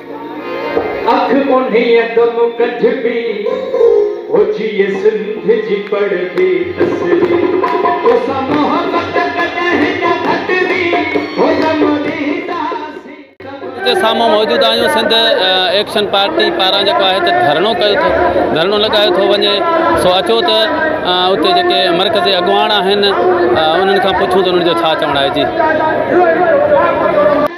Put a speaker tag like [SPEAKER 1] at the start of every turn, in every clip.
[SPEAKER 1] اک انهيء دم ڪڍبي، هجيء سنڌ جي پڙهبي تسلي، توسان محبت ڪڏهن نه گهٽبي، هو دم ڏينداسين ته به. جي سامهون موجود آهيون سنڌ ايڪشن پارٽي پاران جيڪو آهي ته ڌرڻو ڪيو ٿو ڌرڻو لڳايو ٿو وڃي سو اچو ته اتي جيڪي مرڪزي اڳواڻ آهن انهن کان پڇون ته انهن جو ڇا چوڻ آهي جي.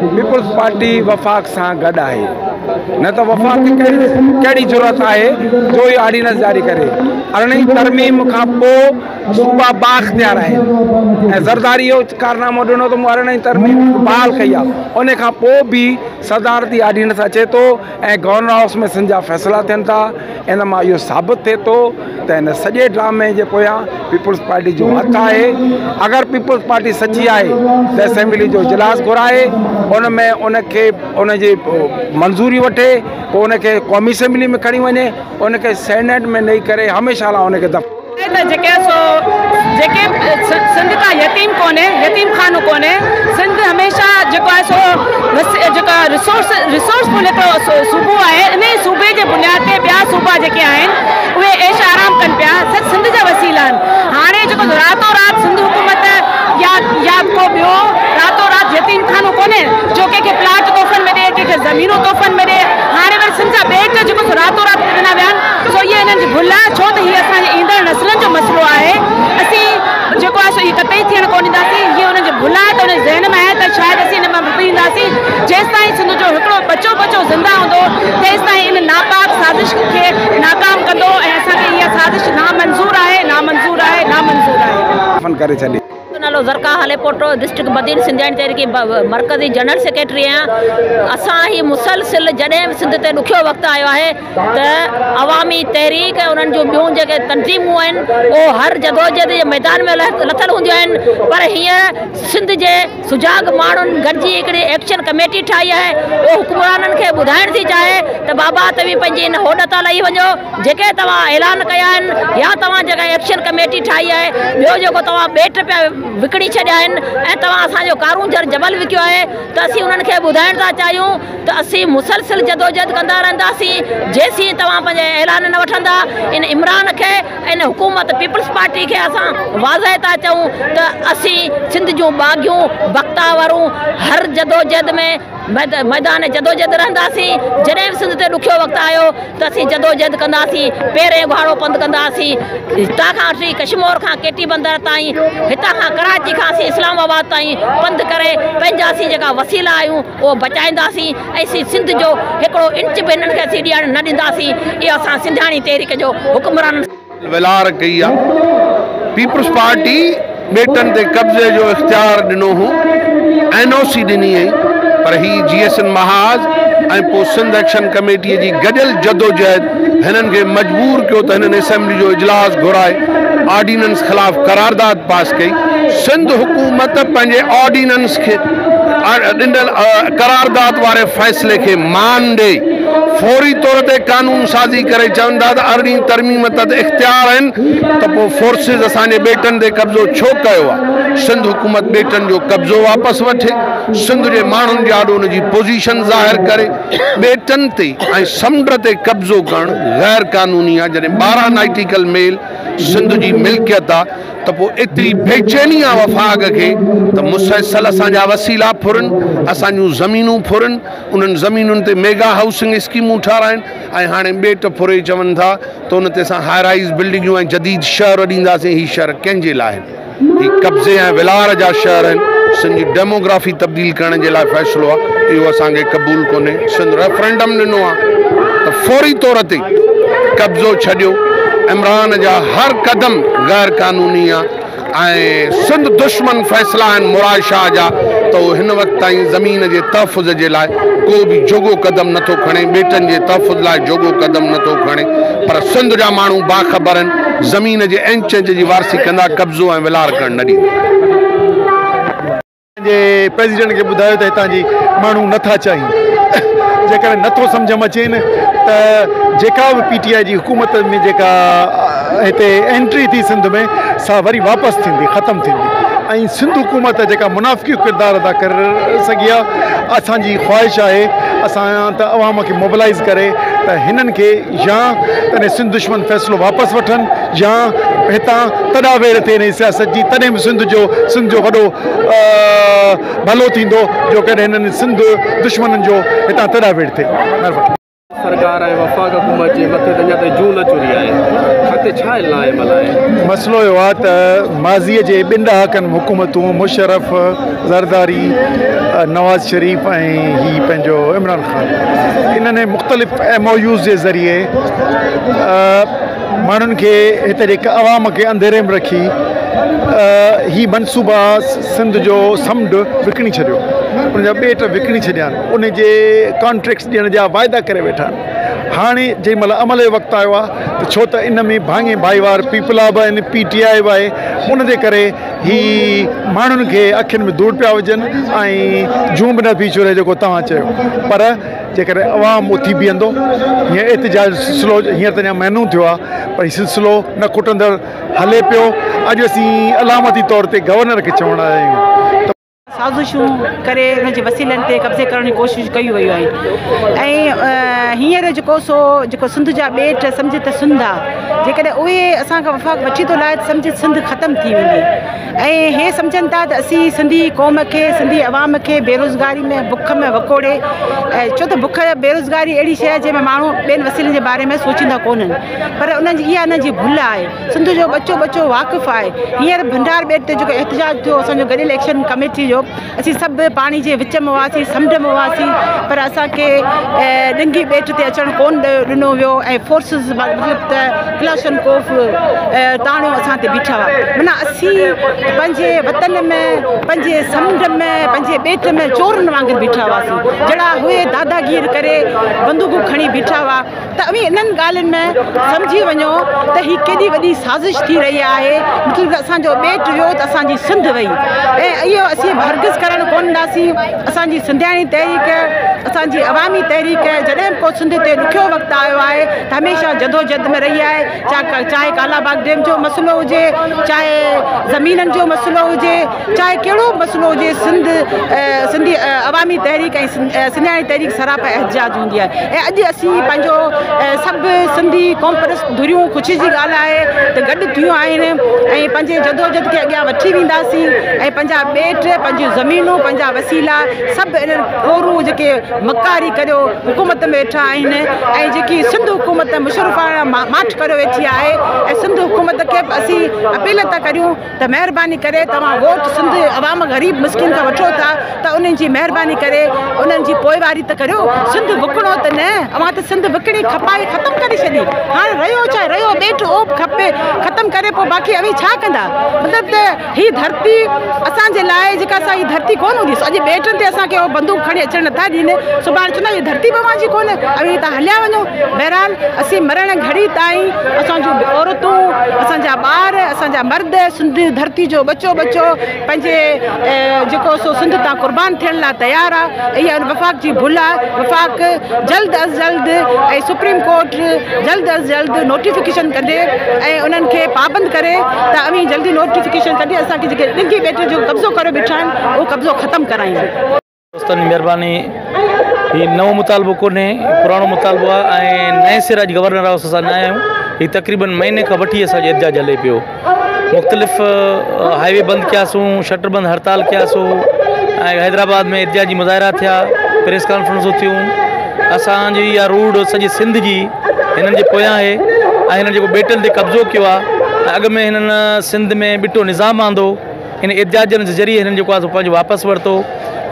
[SPEAKER 2] پيپلز پارٽي وفاق سان گڏ آهي نه ته وفاق کي ڪهڙي جرئت آهي جو هي آرڊيننس جاري ڪري ارڙهين ترميم کان پو صوبا بااختيار آهن ۽ زرداري اهو ڪارنامو ڏنو ته مون ارڙهين ترميم بحال ڪئي آهي ان کان پو به صدارتي آرڊيننس اچي ٿو ۽ گورنر هائوس ۾ سنڌ جا فيصلا ٿين ٿا ان مان اهو ثابت ٿئي ٿو ته هن سڄي ڊرامي جي پويان پيپلز پارٽي جو هٿ آهي اگر پيپلز پارٽي سچي آهي ته اسيمبلي جو اجلاس گهرائي ان ۾ ان کي ان جي منظوري وٺي پوء ان کي قومي اسيمبلي ۾ کڻي وڃي ان کي سينيٽ ۾ نئي ڪري هميشه لاء ان کي دف ته جيڪي سو
[SPEAKER 3] جيڪي سنڌ ڪا يتيم ڪونهي يتيم خانو ڪونهي سنڌ هميشه جيڪو آهي سو جيڪا رسورس رسورس پل هڪڙو صوبو آهي ان ئي صوبي جي بنياد تي ٻيا صوبا جيڪي آهن اهي عيش آرام ڪن پيا سڀ سنڌ جا وسيلا آهن هاڻي جيڪو راتو رات سنڌ حڪومت يا يا ڪو ٻيو راتو رات يتيم خانو ڪونهي جو ڪنهن کي پلاٽ تحفن ۾ ڏي ڪنهن کي زمينون تحفن ۾ ڏي هاڻي وري سنڌ جا ٻيٽ جيڪو راتو رات ڏنا ويا آهن سو هيء انهن جي ڀل آهي، ڇو ته هيء اسان جي ايندڙ نسلن جو مسئلو آهي، اسين جيڪو آهي سو ايئن قطعي ٿيڻ ڪونه ڏينداسين، هيء انهن جي ڀل آهي ته انهن جي ذهن ۾ آهي ته شايد اسين ان مان به پيهنداسين، جيستائين سنڌ جو هڪڙو ٻچو ٻچو زنده هوندو، تيستائين ان ناپاڪ سازش کي ناڪام ڪندو ۽ اسان کي اها سازش نامنظور آهي، نامنظور آهي، نامنظور آهي. دفن
[SPEAKER 2] ڪري ڇڏي. منهنجو نالو زرقا
[SPEAKER 4] هاليپوٽو ڊسٽرڪٽ بدين سنڌياڻي تحريڪ مرڪزي جنرل سيڪريٽري آهيان اسان هي مسلسل جڏهن به سنڌ تي ڏکيو وقت آيو آهي ته عوامي تحريڪ ۽ انهن جون ٻيون جيڪي تنظيمون آهن اهو هر جدوجهد جي ميدان ۾ لٿل هونديون آهن پر هينئر سنڌ جي سجاڳ ماڻهن گڏجي هڪڙي ايڪشن ڪميٽي ٺاهي آهي اهو حڪمرانن کي ٻڌائڻ ٿي چاهي ته بابا توهين پنهنجي ان هوڏ تان لهي وڃو جيڪي توهان اعلان ڪيا آهن يا توهان جيڪا ايڪشن ڪميٽي ٺاهي آهي، ٻيو جيڪو توهان ٻيٽ پيا وڪڻي ڇڏيا آهن ۽ توهان اسان جو ڪارونجهر جبل وڪيو آهي ته اسين انهن کي ٻڌائڻ ٿا چاهيون ته اسين مسلسل جدوجهد ڪندا رهنداسين جيسين توهان پنهنجي اعلان نه وٺندا ان عمران کي ان حڪومت پيپلز پارٽي کي اسان واضح ٿا چئون ته اسين سنڌ جون باغيون بختاورون هر جدوجهد ۾ ميدان جدوجھد رھنداسين جڏھن به سنڌ تي ڏکيو وقت آيو ته اسين جدوجھد ڪنداسين پيرين اگھاڙو پنڌ ڪنداسين ھتان کان وٺي ڪشمور کان ڪي ٽي بندر تائين ھتان کان ڪراچي کان اسين اسلام آباد تائين پنڌ ڪري پنھنجا اسين جيڪا وسيلا آھيون اھو بچائينداسين ۽ اسين سنڌ جو ھڪڙو انچ به ھنن کي اسين ڏيڻ نه ڏينداسين اھو اسان سنڌياڻي تحريڪ جو حڪمرانن ويلار ڪئي
[SPEAKER 2] آ پيپلز پارٽي ٻيٽن تي قبضي جو اختيار ڏنو هو اين
[SPEAKER 5] او سي ڏني هئي پر هي جي ايس اين محاذ ۽ پو سنڌ ايڪشن ڪميٽي جي گڏيل جدوجهد هنن کي مجبور ڪيو ته هنن اسيمبلي جو اجلاس گهرائي آرڊيننس خلاف قرارداد پاس ڪئي سنڌ حڪومت پنهنجي آرڊيننس کي ڏنل قرارداد واري فيصلي کي مان ڏئي فوري طور تي قانون سازي ڪري چون ٿا ته ارڙهين ترميم تحت اختيار آهن ته پوء فورسز اسان جي ٻيٽن تي قبضو ڇو ڪيو آهي؟ سنڌ حڪومت ٻيٽن جو قبضو واپس وٺي، سنڌ جي ماڻهن جي آڏو ان جي پوزيشن ظاهر ڪري، ٻيٽن تي ۽ سمنڊ تي قبضو ڪرڻ غير قانوني آهي، جڏهن ٻارهن نائٽيڪل ميل سنڌ جي ملڪيت آهي ته پوء ايتري بيچيني آهي وفاق کي ته مسلسل اسان جا وسيلا ڦرن، اسان جون زمينون ڦرن، انهن زمينن تي ميگا هائوسنگ اسڪيمون ٺهرائن. ۽ هاڻي ٻيٽ ڦري چون ٿا ته ان تي اسان هاء رائيز بلڊنگيون ۽ جديد شهر اڏينداسين، هي شهر ڪنهن جي لاء آهن؟ هي قبضي ۽ ولار جا شهر آهن، سنڌ جي ڊيموگرافي تبديل ڪرڻ جي لاء فيصلو آهي، اهو اسان کي قبول ڪونهي، سنڌ ريفرنڊم ڏنو آهي ته فوري طور تي قبضو ڇڏيو، عمران جا هر قدم غير قانوني آهن. ۽ سنڌ دشمن فيصلا آهن مراد شاهه جا ته هو هن وقت تائين زمين جي تحفظ جي لاء ڪو به جوڳو قدم نه ٿو کڻي، ٻيٽن جي تحفظ لاء جوڳو قدم نه ٿو کڻي پر سنڌ جا ماڻهو باخبر آهن، زمين جي انچ انچ جي وارثي ڪندا، قبضو ۽ ولار ڪرڻ نه ڏيندا. جي
[SPEAKER 6] پريزيڊنٽ کي ٻڌايو ته هتان جي ماڻهو نه ٿا چاهين جيڪڏهن نه ٿو سمجهه م اچين ته جيڪا به پي ٽي آء جي حڪومت ۾ جيڪا هتي انٽري ٿي سنڌ ۾ سا وري واپس ٿيندي ختم ٿيندي ۽ سنڌ حڪومت جيڪا منافقي ڪردار ادا ڪر سگهي آ اسان جي خواهش آهي اسان ته عوام کي موبلائز ڪري ته هنن کي يا تڏهن سنڌ دشمن فيصلو واپس وٺن يا هتان تڏا ويڙهه ٿي انهي سياست جي تڏهن به سنڌ جو سنڌ جو وڏو ڀلو ٿيندو جو ڪڏهن هنن سنڌ دشمنن جو هتان تڏا ويڙهه ٿئي مهرباني. سرڪار ۽
[SPEAKER 7] وفاق حڪومت جي مٿي تي اڃا تائين جون نه چوري آهي اڳتي ڇا علم آهي عمل آهي. مسئلو اهو آهي ته
[SPEAKER 6] ماضي جي ٻن ڏهاڪن ۾ حڪومتون مشرف، زرداري، نواز شريف ۽ هي پنهنجو عمران خان. انهن ۽ مختلف ايم او يوز جي ذريعي ماڻهن کي هتي جي عوام کي انڌيري ۾ رکي هي منصوبا سنڌ جو سمنڊ وڪڻي ڇڏيو ان جا ٻيٽ وڪڻي ڇڏيا آهن ان جي ڪانٽريڪٽس ڏيڻ جا واعدا ڪري ويٺا آهن هاڻي جنهن مهل عمل جو وقت آيو آهي ڇو ته ان ۾ ڀاڱي ڀائيوار پيپلا به آهن پي ٽي آء به آهي ان جي ڪري هي ماڻهن کي اکين ۾ ڌوڙ پيا وجهن ۽ جون به نه پئي چوري جيڪو توهان چيو پر جيڪڏهن عوام اٿي بيهندو هيئن احتجاج سلسلو هينئر ته اڃا مهينو ٿيو آهي پر هي سلسلو نه کٽندڙ هلي پيو اڄ اسين علامتي طور تي گورنر کي چوڻ آيا آهيون ته سازشون
[SPEAKER 3] ڪري ان جي وسيلن تي قبضي ڪرڻ جي ڪوشش ڪئي ويون آهن ۽ هينئر جيڪو سو جيڪو سنڌ جا ٻيٽ سمجهه ته سنڌ آ جيڪڏهن اهي اسان کان وفاق وٺي ٿو لاهي ته سمجهه سنڌ ختم ٿي ويندي ۽ هي سمجهن ٿا ته اسين سنڌي قوم کي سنڌي عوام کي بيروزگاري ۾ بک ۾ وڪوڙي ڇو ته بک بيروزگاري اهڙي شيء جنهن ۾ ماڻهو ٻين وسيلن جي باري ۾ سوچيندا ڪونهن پر انهن جي اها انهن جي ڀل آهي سنڌ جو ٻچو ٻچو واقف آهي هينئر ڀنڊار ٻيٽ تي جيڪو احتجاج ٿيو اسان جو گڏيل ايڪشن ڪميٽي جو اسين سڀ پاڻي جي وچ ۾ هئاسين سمنڊ ۾ هئاسين پر اسان کي ڏنگي ٻيٽ تي اچڻ ڪون ڏنو ويو ۽ فورسز مطلب ته ڪلاشن ڪوف تاڻيو اسان تي بيٺا هئا منا اسين پنهنجي وطن ۾ پنهنجي سمنڊ ۾ پنهنجي ٻيٽ ۾ چورن وانگر بيٺا هئاسين جهڙا هئي داداگير ڪري بندوقون کڻي بيٺا هئا ته اوهين انهن ڳالهين ۾ سمجهي وڃو ته هي ڪيڏي وڏي سازش ٿي رهي آهي، مطلب ته اسان جو ٻيٽ ويو ته اسان جي سنڌ وئي ۽ اهو اسين هرگز ڪرڻ ڪونه ڏاسين، اسان جي سنڌياڻي تحريڪ، اسان جي عوامي تحريڪ جڏهن به ڪو سنڌ تي ڏکيو وقت آيو آهي ته هميشه جدوجهد ۾ رهي آهي، چاهي ڪالا باغ ڊيم جو مسئلو هجي، چاهي زمينن جو مسئلو هجي. چاهي ڪهڙو به مسئلو هجي، سنڌ، سنڌي عوامي تحريڪ ۽ سنڌياڻي تحريڪ سراپا احتجاج هوندي آهي ۽ اڄ اسين پنهنجو سڀ سنڌي قومپرست ڌريون خوشي جي ڳالهه آهي ته گڏ ٿيون آهن ۽ پنهنجي جدوجھد کي اڳيان وٺي وينداسين ۽ پنهنجا ٻيٽ، پنهنجيون زمينون، پنهنجا وسيلا سڀ انهن ڦورون جيڪي مڪاري ڪريو حڪومت ۾ ويٺا آهن ۽ جيڪي سنڌ حڪومت مشرفاڻا ماٺ ڪريو ويٺي آهي ۽ سنڌ حڪومت کي به اسين اپيل ٿا ڪريون. ته مهرباني ڪري توهان ووٽ سنڌ عوام غريب مسڪين کان وٺو ٿا ته انهن جي مهرباني ڪري انهن جي پوئواري ته ڪريو سنڌ وڪڻو ته نه اوهان ته سنڌ وڪڻي کپائي ختم ڪري ڇڏي هاڻ رهيو ڇا رهيو ٻيٽ اوڀ کپي ختم ڪري پوء باقي اوهين ڇا ڪندا مطلب ته هي ڌرتي اسان جي لاء جيڪا اسان هي ڌرتي ڪون هوندي اڄ ٻيٽن تي اسان کي بندوق کڻي اچڻ نٿا ڏين سڀاڻ چوندا هي ڌرتي به اوهان جي ڪون اوهين تان هليا وڃو بهرحال اسين مرڻ گهڙي تائين اسان جون عورتون اسان جا ٻار اسان مرد سنڌ ڌرتي جو ٻچو ٻچو پنهنجي جيڪو سو سنڌ تان قربان ٿيڻ لاء تيار آهي اها وفاق جي ڀل آهي وفاق جلد از جلد ۽ سپريم ڪورٽ جلد از جلد نوٽيفڪيشن ڪندي ۽ انهن کي پابند ڪري ته اوهين جلدي نوٽيفڪيشن ڪندي اسان کي جيڪي ڏگهي ٻيٽ جو قبضو ڪري بيٺا آهن اهو قبضو ختم ڪرائين دوستن جي
[SPEAKER 8] مھرباني ھي نئون مطالبو ڪونھي پراڻو مطالبو آھي ۽ نئين سر اڄ گورنر ھائوس اسان نھ آھيون ھي تقريبن مھيني کان وٺي اسان جو احتجاج ھلي پيو مختلف ھائي وي بند ڪياسون شٽر بند ھڙتال ڪياسون ۽ حيدرآباد ۾ احتجاجي مظاھرا ٿيا پريس ڪانفرنسون ٿيون اسان جي اھا روڊ سڄي سنڌ جي ھنن جي پويان آھي ۽ ھنن جيڪو ٻيٽن تي قبضو ڪيو آھي اڳ ۾ ھنن سنڌ ۾ ٻٽو نظام آندو ان احتجاج جي ذريعي هنن جيڪو آهي سو پنهنجو واپس ورتو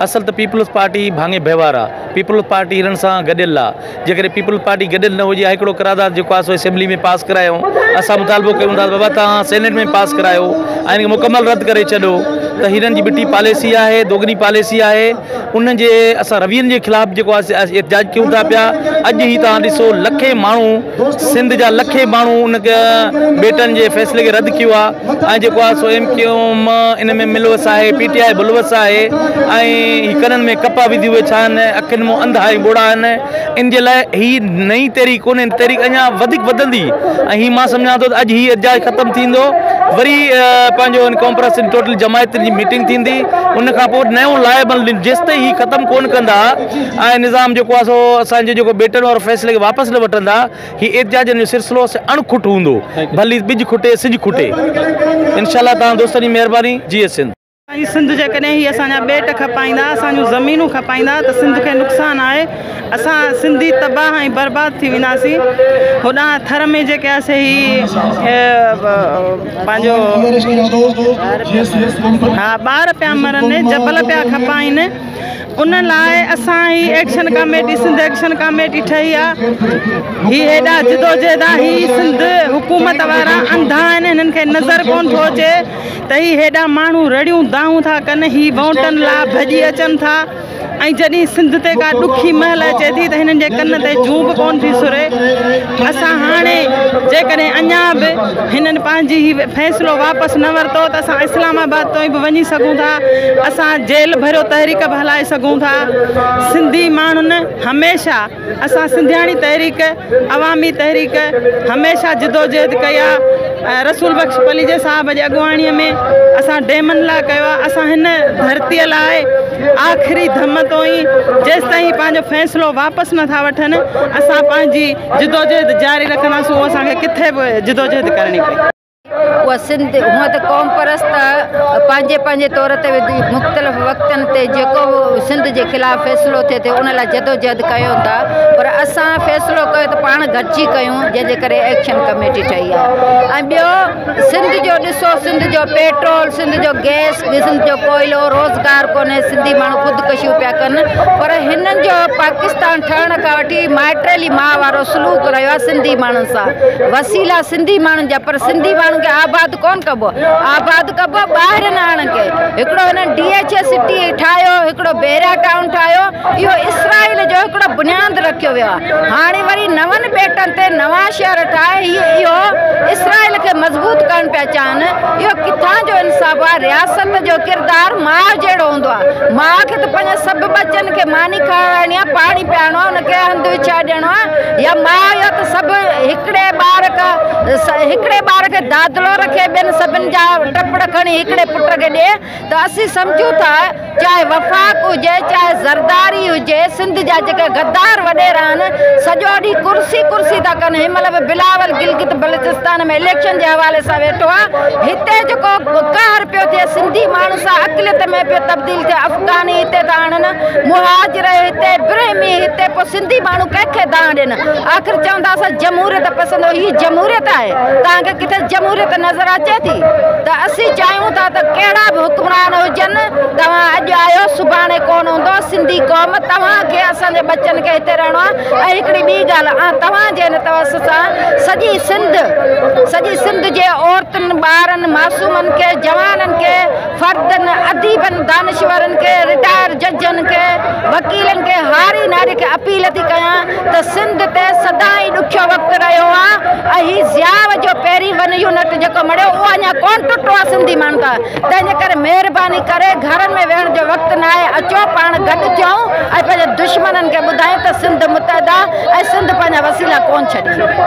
[SPEAKER 8] اصل ته پيپلز پارٽي ڀاڱي بهوار آ پيپلز پارٽي هنن سان گڏيل آ جيڪڏهن پيپلز پارٽي گڏيل نه هجي ها هڪڙو قرارداد جيڪو آهي سو اسيمبلي ۾ پاس ڪرايو اسان مطالبو ڪيون ٿا بابا توهان سينيٽ ۾ پاس ڪرايو ۽ مڪمل رد ڪري ڇڏو ته هنن جي ٻٽي پاليسي آهي دوگني پاليسي آهي انهن جي اسان روين جي خلاف جيڪو آهي سي احتجاج ڪيون ٿا پيا اڄ هي توهان ڏسو لکين ماڻهو سنڌ جا لکين ماڻهو ان ٻيٽن جي فيصلي کي رد ڪيو آهي ۽ جيڪو آهي سو ايم ڪيو ايم ان ۾ ملوث آهي پي ٽي آء ملوث آهي ۽ ڪنن ۾ ڪپا وڌي اهي ڇا آهن اکين مون انڌا ۽ ٻوڙا آهن ان جي لاء هي نئين تحريڪ ڪونهي، تحريڪ اڃا وڌيڪ وڌندي ۽ هي مان سمجهان ٿو ته اڄ هي احتجاج ختم ٿيندو وري پنهنجو ان ڪانفرنس ان ٽوٽل جماعتين جي ميٽنگ ٿيندي ان کان پوء نيون لاء بل جيستائين هي ختم ڪون ڪندا ۽ نظام جيڪو آهي سو اسان جي جيڪو بيٽن وارو فيصلي کي واپس نه وٺندا هي احتجاجن جو سلسلو سي اڻ کٽ هوندو ڀلي ٻج کٽي سج کٽي انشاء الله تان دوستن جي مهرباني جيئي سنڌ. اي سنڌ جيڪڏهن
[SPEAKER 3] هي اسان جا ٻيٽ کپائيندا اسان جون زمينون کپائيندا ته سنڌ کي نقصان آهي اسان سنڌي تباهه ۽ برباد ٿي وينداسين هوڏانهن ٿر ۾ جيڪي آهي سي هي پنهنجو ها ٻار پيا مرن جبل پيا کپائين ان لاء اسان هي action committee Sindh action committee ٺهي آهي هي هيڏا جدوجهد آهي هي سنڌ حڪومت وارا انڌا آهن هنن کي نظر ڪون ٿو اچي ته هي هيڏا ماڻهو رڙيون دانهون ٿا ڪن، هي وونٽن لا ڀڄي اچن ٿا ۽ جڏهن سنڌ تي ڪا ڏکي مهل اچي ٿي ته هنن جي ڪن تي جون به ڪونه ٿي سري. اسان هاڻي جيڪڏهن اڃا به هنن پنهنجي هي فيصلو واپس نه ورتو ته اسان اسلام آباد توئين به وڃي سگهون ٿا، اسان جيل ڀريو تحريڪ به هلائي سگهون ٿا. سنڌي ماڻهن هميشه اسان سنڌياڻي تحريڪ عوامي تحريڪ هميشه جدوجهد ڪئي آ ۽ رسول بخش پليجي صاحب جي اڳواڻي ۾ اسان ڊيمن لا ڪيو آ اسان هن ڌرتي لاء آخري ڌم توئين جيستائين پنهنجو فيصلو واپس نه ٿا وٺن اسان پنهنجي جدوجهد جاري رکنداسون اسان کي ڪٿي به جدوجهد ڪرڻي پئي. اها سنڌ
[SPEAKER 4] هونئن ته قومپرست پنهنجي پنهنجي طور تي مختلف وقتن تي جيڪو به سنڌ جي خلاف فيصلو ٿئي ٿو ان لاء جدوجهد ڪيون ٿا پر اسان فيصلو ڪيو ته پاڻ گڏجي ڪيون جنهن جي ڪري ايڪشن ڪميٽي ٺهي آهي ۽ ٻيو سنڌ جو ڏسو سنڌ جو پيٽرول سنڌ جو گئس سنڌ جو ڪوئلو روزگار ڪونهي سنڌي ماڻهو خودڪشيون پيا ڪن پر هنن جو پاڪستان ٺهڻ کان وٺي مائٽريلي ماء وارو سلوڪ رهيو آهي سنڌي ماڻهن سان وسيلا سنڌي ماڻهن جا پر سنڌي ماڻهن کي آباد ڪون ڪبو آباد ڪبو ٻاهرين آڻن کي هڪڙو هنن ڊي ايڇ اي سٽي ٺاهيو هڪڙو بيرا ٽائون ٺاهيو اهو اسرائيل جو هڪڙو بنياد رکيو ويو آهي هاڻي وري نون ٻيٽن تي نوان شهر ٺاهي هي اهو اسرائيل کي مضبوط ڪرڻ پيا چاهن اهو ڪٿان جو انصاف آهي رياست جو ڪردار ماء جهڙو هوندو آهي ماء کي ته پنهنجن سڀ ٻچن کي ماني کارائڻي آهي پاڻي پيارڻو آهي ان کي هنڌ وڇائي ڏيڻو آهي يا ماء يا سڀ هڪڙي ٻار ڪا هڪڙي ٻار کي دادلو رکي ٻين سڀن جا ٽپڙ کڻي هڪڙي پٽ کي ڏي ته اسين سمجهون ٿا چاهي وفاق هجي چاهي زرداري هجي سنڌ جا جيڪي غدار وڏيرا آهن سڄو ڏينهن ڪرسي ڪرسي ٿا ڪن هن مهل به بلاول گلگت بلتستان ۾ اليڪشن جي حوالي سان ويٺو آهي هتي جيڪو قهر پيو ٿئي سنڌي ماڻهن سان اقليت ۾ پيو تبديل ٿئي افغاني هتي ٿا آڻن مهاجر هتي برهمي هتي پوء سنڌي ماڻهو ڪنهن کي دانهن ڏين. آخر چوندا اسان جمهوريت پسند آهيون هي جمهوريت آهي توهان کي ڪٿي جمهوريت نظر اچي ٿي ته اسين چاهيون ٿا ته ڪهڙا به حڪمران هجن توهان اڄ آهيو سڀاڻي ڪونه هوندو سنڌي قوم توهان کي اسان جي
[SPEAKER 9] ٻچن کي هتي رهڻو آهي ۽ هڪڙي ٻي ڳالهه آ توهان جي هن توس سان سڄي سنڌ سڄي سنڌ جي عورتن ٻارن معصومن کي جوانن کي فردن، اديبن، دانشورن کي، رٽائر ججن کي، وڪيلن کي، هاري ناري کي اپيل ٿي ڪيان ته سنڌ تي سدائين ڏکيو وقت رهيو آ ۽ هي ضياء جو پهرين ون يونٽ جيڪو مڙيو اهو اڃا ڪونه ٽٽو آ سنڌي ماڻهن کان تنهن جي ڪري مهرباني ڪري گهرن ۾ ويهڻ جو وقت ناهي اچو پاڻ گڏ ٿيون ۽ پنهنجي دشمنن کي ٻڌايون ته سنڌ متحد آ ۽ سنڌ پنهنجا وسيلا ڪونه ڇڏي.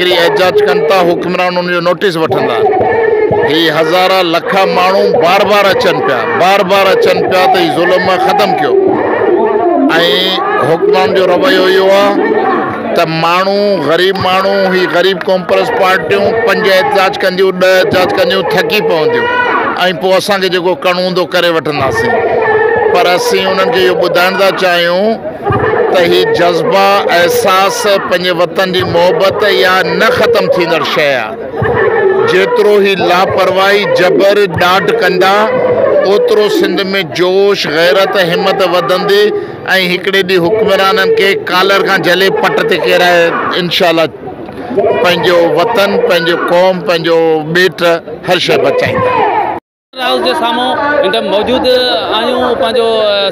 [SPEAKER 10] ڪري احتجاج ڪن ٿا حڪمران ان جو نوٽيس وٺندا هي هزارا لکا ماڻهو بار بار اچن پيا بار بار اچن پيا ته هي ظلم ختم ڪيو ۽ حڪمران جو رويو اهو آهي ته ماڻهو غريب ماڻهو هي غريب ڪانپرس پارٽيون پنج احتجاج ڪنديون ڏه احتجاج ڪنديون ٿڪي پونديون ۽ پوء اسانکي جيڪو ڪرڻو هوندو ڪري وٺنداسين پر اسين انهن کي اهو ٻڌائڻ ٿا چاهيون ته هي جذبا، احساس، پنهنجي وطن جي محبت يا نه ختم ٿيندڙ شيء آ. جيترو هي لاپرواهي، جبر، ڏاڍ ڪندا، اوترو سنڌ ۾ جوش، غيرت، همت وڌندي ۽ هڪڙي ڏينهن حڪمرانن کي ڪالر کان جهلي پٽ تي ڪيرائي انشاء الله پنهنجو وطن، پنهنجي قوم، پنهنجو ٻيٽ هر شيء بچائيندا. هائوس جي
[SPEAKER 1] سامهون هينئر موجود آهيون پنهنجو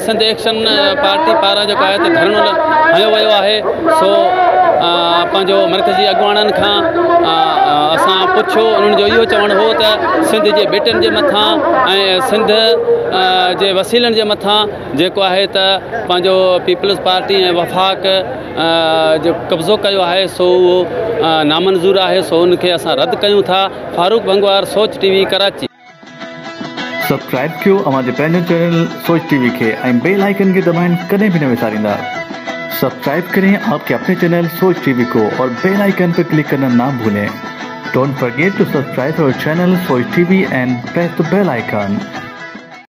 [SPEAKER 1] سنڌ ايڪشن پارٽي پاران جيڪو آهي ته ڌرڻو هنيو ويو آهي سو پنهنجو مرڪزي اڳواڻن کان اسان پڇيو انهن جو اهو چوڻ هو ته سنڌ جي ٻيٽن جي مٿان ۽ سنڌ جي وسيلن جي مٿان جيڪو آهي ته پنهنجو پيپلز پارٽي ۽ وفاق جو قبضو ڪيو آهي سو اهو نامنظور آهي سو ان کي اسان رد ڪيون ٿا Farooq Bhangwar Soch T V Karachi.
[SPEAKER 11] Subscribe ڪيو اوهان جي پنهنجي چينل سوچ ٽي وي کي ۽ بيل آئيڪن کي دٻائڻ ڪڏهن به نه وساريندا سبسڪرائب ڪرين آپ ڪي اپني چينل سوچ ٽي وي ڪو اور بيل آئيڪن پي ڪلڪ ڪرنا نا ڀولين ڊونٽ فرگيٽ ٽو سبسڪرائب اور channel Soch T V and press the bell icon.